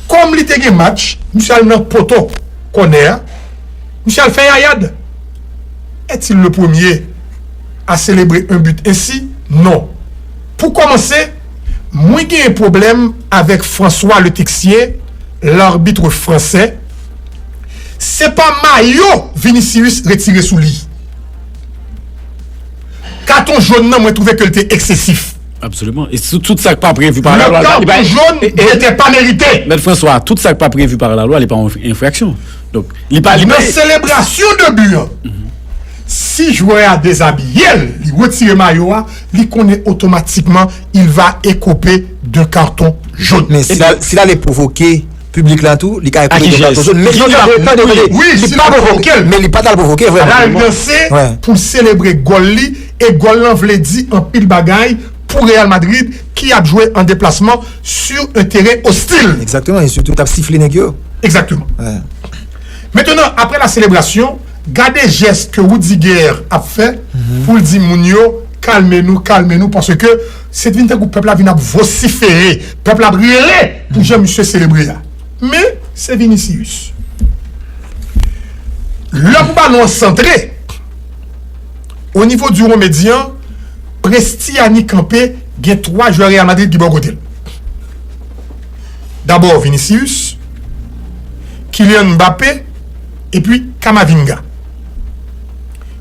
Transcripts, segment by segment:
Kòm li te gen match, misye al nan poto kònè a, misye al fè yayad. Est-il le premier à celebrer un but ainsi? Non. Pou kòmanse, mwen genyen pwoblèm avèk François Le Texier, l'arbitre français, se pa mayo Vinicius retire sou li. Katon jòn nan mwen twouve ke li te eksesif. Absoliman. E sou tout sa k pa previ pa la lwa. Le karton jòn dete pa merite. Mèt Franswa, tout sa k pa previ pa la lwa li pa yon enfraksyon. Donk, li pa li pa. Nan selebrasyon de bi an, si jwè a dezabiye l, li retire mayo a, li konnen otomatikman il va écoper d'un carton jaune. Men si l ale pwovoke. Piblik la tou, li ka ekoupe gen plato zo. Gin yap mouri. Tande, tande. Wi, si li pa pwovoke l. Men li pa t al pwovoke vrèman. L al danse pou l selebre gòl li e gòl lan vle di anpil bagay pou Real Madrid ki ap jwe an deplasman sur un terrain hostile. Egzakteman e sitou t ap sifle nèg yo. Egzakteman. Mentenan apre la selebrasyon, gade jès ke Rudiger ap fè pou l di moun yo kalme nou, kalme nou paske Se vin tankou pèp la vin ap vosifere, pèp la ap rele pou jan misye selebre a. Men, se Vinicius. Lè pou balon an santre, o nivo di won medyan, Prestiani kanpe, gen 3 jwè Real Madrid ki bò kote l. Dabò Vinicius, Kylian Mbappé, epi Camavinga.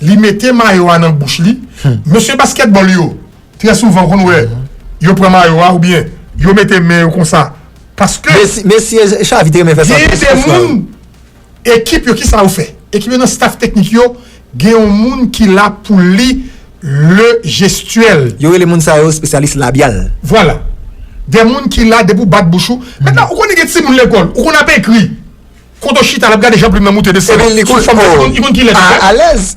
Li mete mayo a nan bouch li. Mesye baskètbòl yo, trè souvan ou konn wè, yo pran mayo a oubyen yo mete men yo konsa paske genyen de moun ekip yo, kisa yo fè? Ekip yo nan staf teknik yo gen yon moun ki la pou li le jestyèl. Yo rele moun sa yo espesyalis labyal. Vwala. De moun ki la depi ou bat bouch ou. Mètnan ou konnen gen timoun lekòl, ou konn ap ekri. Koto chita lap gade jan plim nan moute de sere sou fom la li konn kilè lap fè alèz.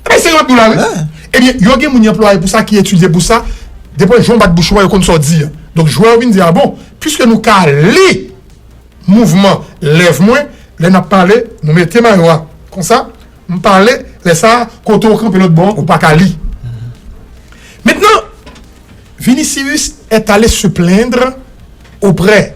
Ebyen se yo ap nou la wi. Ebyen yo gen moun y anplwaye pou sa ki etidye pou sa depo jan w bat bouch ou a yo konn sa w di a. Donk jwè yo vin di a bon piske nou ka li mouvman lèv mwen lè nap pale nou mete mayo a konsa m pale lè sa koto kanpe lòt bò ou pa ka li. Mentnan Vinicius est allé se plaindre auprès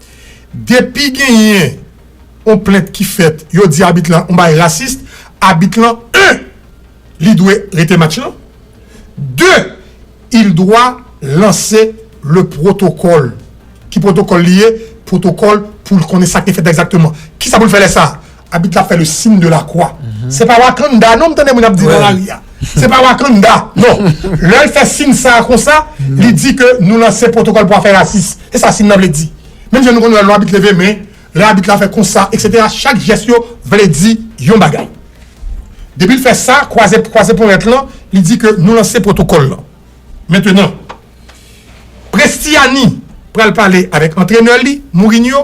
Depi genyen on plent ki fèt yo di abit lan on bagay rasist, abit lan 1 li dwe rete match lan, 2 il dwa lanse le protocol, ki protocol li ye, protocol poul konnen sak te fèt la egzakteman, kisa poul fè lè sa, Abit la fè le signe de la croix. Se pa Wakanda non m tande moun ap di nan lari a. Se pa Wakanda non. Lè l fè signe sa a konsa, li di ke nou lanse pwotokòl pou afè rasis. Se sa signe lan vle di. Menm jan nou konn wè lò abit leve men, lè abit la fè konsa, eksetera, chak jès yo vle di yon bagay. Depi l fè sa, kwaze kwaze ponyèt lan, li di ke nou lanse pwotokòl lan. Mentenan, Prestiani pral pale avèk antrenè li, Mourinho.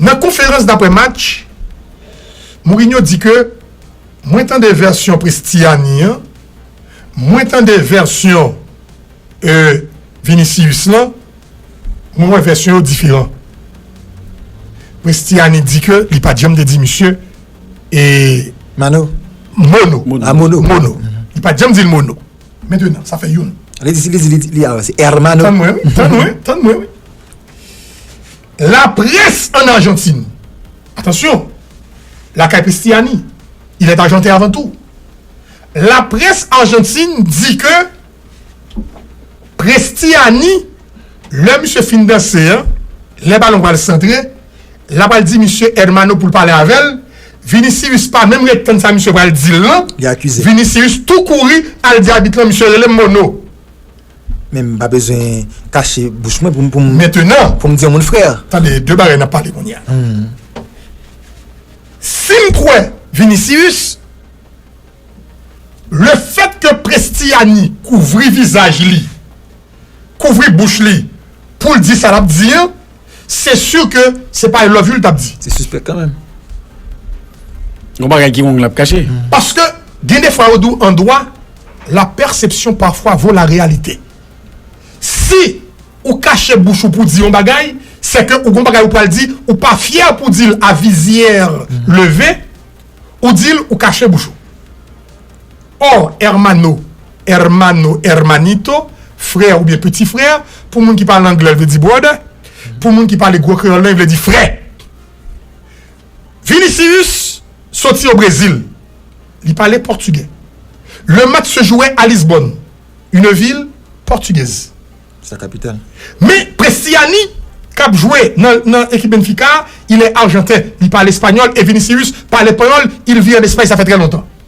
Nan konferans daprè match, Mourinho di ke Mwen tande vèsyon Prestiani an, mwen tande vèsyon Vinicius lan, mwen wè vèsyon yo diferan. Prestiani di ke li pat janm te di misye e Mano Mono, a Mono, Mono, li pat janm di l Mono. Mentenan, sa fè youn. Li di, li di, li di, li avanse, Ermano. Tann mwen wi, tann mwen, tann mwen wi. La près an Arjantin, atansyon, lakay Pristiani, il est arjanten avan tou, la près Arjantin di ke Pristiani, lè misye fin danse an, lè balon pral santre, la pral di misye Hermano pou l pale avè l, Vinicius pa menm ret tann sa misye pral di l lan, Vinicius tou kouri al di abit lan misye rele m Mono. Men m pa bezwen kache bouch mwen pou m. Mentenan. Pou m di yon moun frè. Tande, de bagay n ap pale kounye a. Si m kwè Vinicius, le fèt ke Prestiani kouvri vizaj li, kouvri bouch li pou l di sa l ap di an, Se sur ke se pa I love you li tap di. Se suspect kanmenm. Gon bagay ki wong lap kache. Paske gen defwa yo di w an dwa la perception parfois vaut la réalité. Si ou kache bouch ou pou di yon bagay, se ke ou gon bagay ou pral di, ou pa fyè pou di l a visière levée, ou di l ou kache bouch ou. Or, hermano, hermano, hermanito, frè oubyen peti frè, pou moun ki pale anglè l vle di brother, pou moun ki pale gwo kreyòl lan vle di frè. Vinicius soti o Brezil, li pale pòtigè. Le match se jouè a Lisbonne, une ville portugaise. Sa kapital. Men Prestiani k ap jwe nan ekip Benfica a, il est argentin, li pale espanyòl e Vinicius pale panyòl, il vit en Espagne ça fait très longtemps.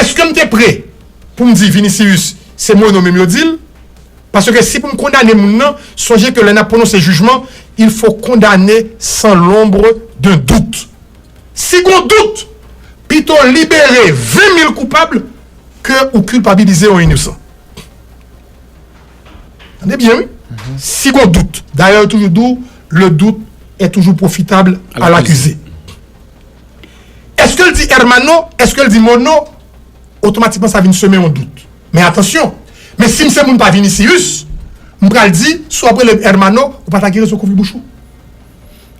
Eske m te pre pou m di Vinicius se Mono menm yo di l? Paske si pou m kondane moun nan, sonje ke lè n ap pwononse jijman, il fo kondane san lombre d'un doute. Si gon dout, pito libere 20 mil koupab ke ou kilpabilize yon inosan. Tande byen wi, si gon dout. Dayè yo toujou di w, le doute est toujours profitable à l'accusé. Eske l di Ermanno? Eske l di Monno? Otomatikman sa vin semen yon dout. Men atansyon, men si m se moun pa Vinicius, m pral di, si w ap rele m Ermanno, ou pa ta ki rezon kouvri bouch ou?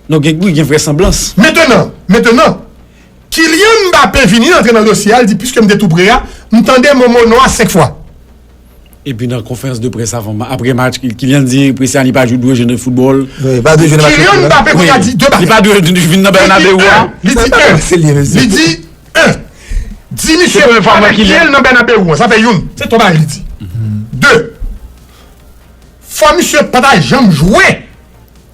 Non gen bri, gen vrèsanblans. Mentenan, mentenan, Kylian Mbappé vini antre nan dosye a, l di, piske m te tou pre a, m tande mo Monno a senk fwa. Epi nan konferans de près avan match, aprè match, Kylian di Presnel li pa dwe jwe nan foutbòl. Li pa dwe jwe nan match retour la. Kylian Mbappé konnya di 2 bagay. Li pa dwe vin nan Bernabeu a. Li di 1, li di 1, di misye pandan kiyèl nan Bernabeu an, sa fè youn, se 3 bagay li di. 2, fò misye pa ta janm jwe.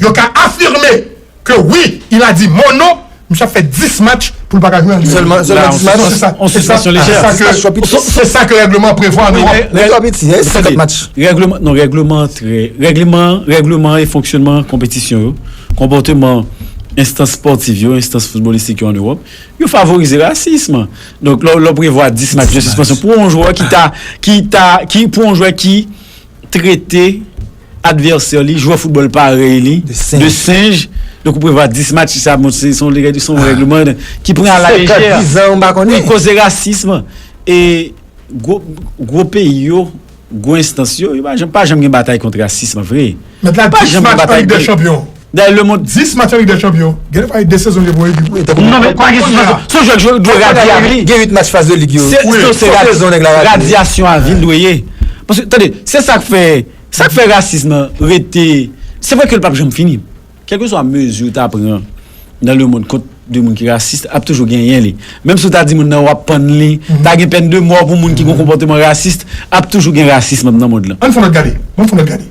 Yo ka afirme ke wi il a dit mon nom misye ap fè 10 match pou l pa ka jwe an Ligue 1. Sèlman 10 match? Non se sa. Se sa ke règleman an prevwa an Ewòp. Lè twò piti se 50 match. Règleman non règleman an trè règleman règleman an e fonksyonman konpetisyon yo konpòteman enstans spòtif yo enstans foutbolistik yo an Ewòp yo favorize rasism an. Donk lè w prevwa 10 match de sispansyon pou yon jwè ki ta ki ta ki pou yon jwè ki trete advèsè li, jwè foutbòl parèy li, de senj. Donk ou prevwa dis match sa, bon se son règleman ki pran a la lejè. Senkant, dizan, mpa konnen. Wi, koze rasism. E gwo peyi yo, gwo enstans yo, yo pa janm gen batay kont rasism vre. Mèt la, dis match an Lig dè Chanpyon. Dayè le mond. 10 match an Lig dè Chanpyon, gen lè pale 2 sezon gen pou yon ekip wi. Non men pa gen sou son jwèt yo dwe radi a vini. Gen 8 match faz de lig yo. Se sezon nèg la radi. Radiasyon a vini dwe ye. Paske tande, se sak fè, sak fè rasism nan rete, se vre ke l pap janm fini. Kèlkeswa mezi ou ta pran nan le mond kont de moun ki rasis, ap toujou genyen li. Menm si ou ta di moun nan wap pann li, ta gen pèn de mò pou moun ki gen konpòteman rasis, ap toujou gen rasism nan mond lan. Ann fon lòt gade, ann fon lòt gade.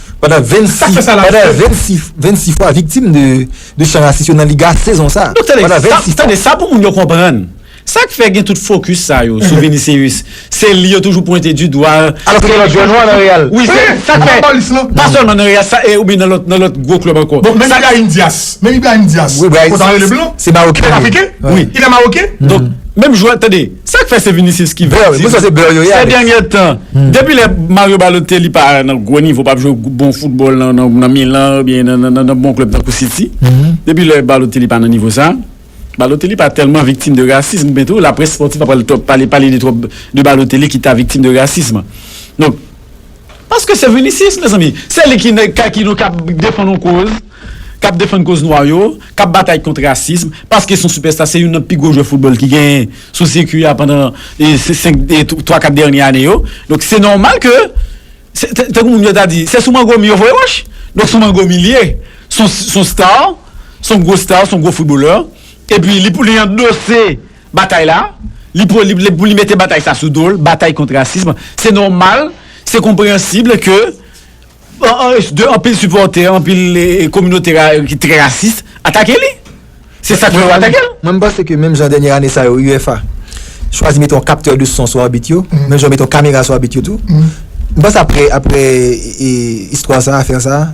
Pandan 26 fwa viktim de chan rasis yo nan Liga sezon sa. Donk tande sa pou moun yo konprann. Sa k fè gen tout fokis sa yo sou Vinicius? Se li yo toujou pwente di dwa. Alòs ke gen lòt jwè nwa nan Real. Wi se sa k fè. Pa sèlman nan Real sa e ou byen nan lòt nan lòt gwo klèb ankò. Bon menm Ibrahim Diaz. Menm Ibrahim Diaz. Wi Ibrahim. Kòt anlè le blan. Se mawoken. Se afriken. Wi. Ilè mawoken. Donk menm jwè tande. Sak fè se Vinicius ki vle di nou sè dènyè tan depi lè Mario Balotelli pa nan gwo nivo pap jwe bon foutbòl nan Milan oubyen nan bon klèb tankou City depi lè Balotelli pa nan nivo sa Balotelli pa tèlman viktim de rasism men tou laprès spòtif pa pral pale de twòp de Balotelli ki ta viktim de rasism donk. Paske se Vinicius mezanmi. Se li ki nèg kay ki nou kap defann yon koz, kap defann koz nwa yo, kap batay kont rasism, paske son sipèsta, se youn nan pi gwo jwè foutbòl ki genyen sou sirkwi a pandan 5 e 3 4 dènye ane yo. Donk se nòmal ke se tankou moun yo ta di se sou mango mi yo voye wòch. Donk sou mango mi li ye. Son star, son gwo star, son gwo foutbolè epi li pou li andose. Batay la, li pou li mete batay sa sou do l, batay kont rasism. Se nòmal, se konpreyansibl ke de anpil sipòtè, anpil kominote ki trè rasis atake li. Se sa k fè yo atake l. Mwen m panse ke menm jan dènye ane sa yo UEFA chwazi mete yon kaptè de son sou abit yo, menm jan yo mete yon kamera sou abit yo tou, m panse aprè istwa sa, afè sa,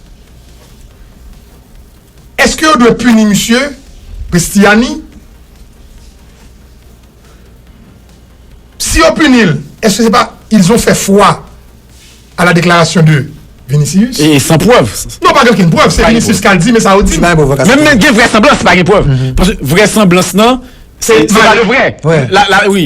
Eske yo dwe pini misye Christiani? Si yo pini l eske se pa ils ont fait foi à la déclaration de Vinicius? E san prèv. Non pa gen okenn prèv, se Vinicius kal di men sa yo di. Menm lè gen vrèsanblans se pa gen prèv. Paske vrèsanblans lan se pa de vrè. La wi.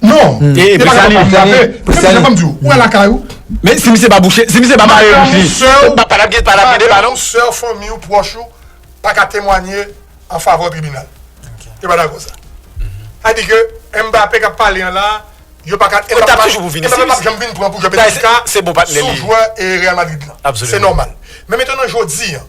Non, e pa sa li di la. Pou sa li di. Ou ala kay ou. Men si misye pa bouche, si misye pa mare bouche li. Ou pa la bouche, pa la bouche pa non. Sè ou, fanmi ou, pwòch ou, pa ka temwanye an favè ou tribinal. Yo pa dakò sa. A di ke Mbappe kap pale an la, yo pa ka. Ou tap toujou pou Vinicius. Mbappe pap janm vin pran pou jwè PSG. Se bon patnè li. Sou jwè Real Madrid la. Absolument. Se nòmal. Men metenan jodi an.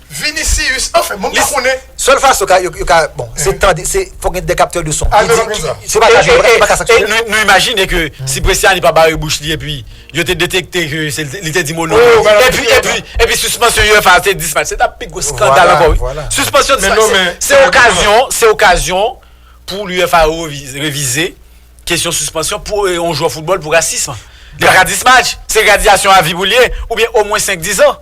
Vinicius anfen moun pa konnen. Sèl fason ka yo ka bon se tande se fòk gen de kaptè de son. Alvero Kenza. Se pa ka jwe e e e nou nou imajine ke si Bresciani pa bare bouch li epi yo te detekte ke se l li te di mo non an epi epi epi sispansyon uefa a se 10 match se t ap pi gwo skandal ankò wi. Sispansyon 10 match se se okazyon se okazyon pou uefa revize revize kesyon sispansyon pou e yon jwè foutbòl pou rasism. Li pa ka 10 match se gradyasyon avi pou l ye oubyen omwen 5 10 an.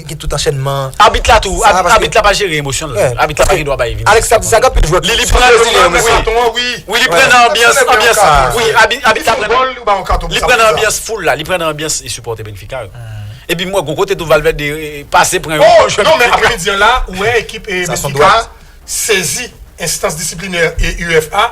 gen tout anchènman. Abit la tou, abit la pa jere emosyonl, abit la pa gen dwa bay Vinicius. Alex tap di sa gen anpil jwè ki Li pran nan anbyans la, wi abit la pran Li pran nan anbyans foul la, li pran nan anbyans sipòtè Benfica yo. Epi m wè gon kote tou Valverde pase pran yon jwè Benfica. Men apremidi an la, ou wè ekip Benfica sezi enstans disiplinè UEFA.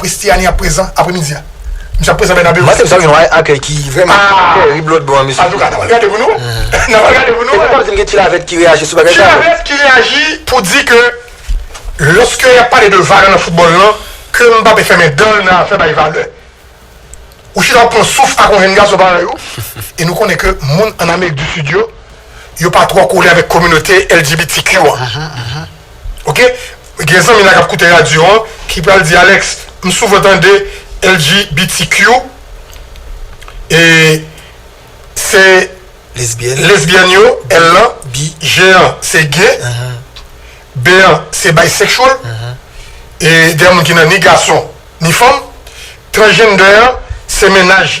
Pristiani ap prezan apremidi a. Misye ap prezan Bernabeu. Match sa gen yon akèy ki vrèman terib lòt bò an mesye. Antouka, n ap al gade pou nou. N ap al gade pou nou. E nou pap di m gen Chilavert ki reyaji sou bagay sa yo? Chilavert ki reyaji pou di ke lòske y ap pale de valè nan foutbòl lan, ke Mbappé fèmen dan l nan afè bay valè. Ou chita w ap pran souf ak yon jenn gason parèy ou, e nou konnen ke moun ann Amerik di Sid yo, yo pa twò kole avèk kominote LGBTQ an. ok gen zanmi la kap koute radyo an ki pral di Alex m souvan tande LGBTQ e se lesbyèn yo L lan G an se gay B an se bisexual e gen moun ki nan ni gason ni fanm transgender an se mennaj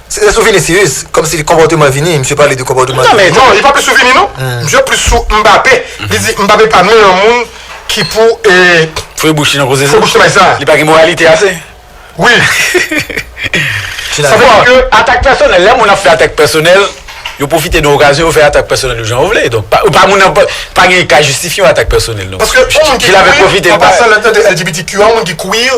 Se te sou Vinicius, kòm si konpòteman Vini, misye pale de konpòteman Vini. Non, li pa plis sou Vini non. Misye plis sou Mbappé. Li di Mbappé pa meyè moun ki pou fouye bouch li nan koze sa. Li pa gen moralite ase. Wi. Sa vle di ke atak pèsonèl, lè moun ap fè atak pèsonèl, yo pwofite nan okazyon yo fè atak pèsonèl yo jan yo vle. Donk, pa moun nan pa gen ka jistifye yon atak pèsonèl non. Paske yon moun ki queer, an pasan lè n tande LGBTQ, yon moun ki queer.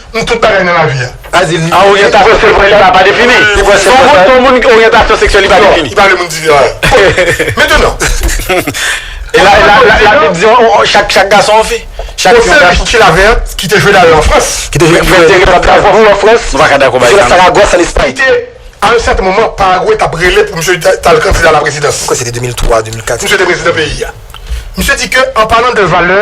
M tout bagay nan lavi a. A oryantasyon seksyèl li pa defini. Ton moun ki oryantasyon seksyèl li pa defini. Li pale moun divi a. Metenan. E la bib di chak gason yon fi. Yon sèl fi ki la vèt ki te jwe dayè an Frans. Ki te jwe dayè an Frans. Nou pa ka dakò bay sa non. Ki te jwe nan Saragosse an Espay. Ki te a yon sèten moman Paragwe t ap rele pou misye t al kandida a la prezidans. Mwen kwè se te 2003, 2004. Misye te prezidan peyi a. Misye di ke an palan de valè.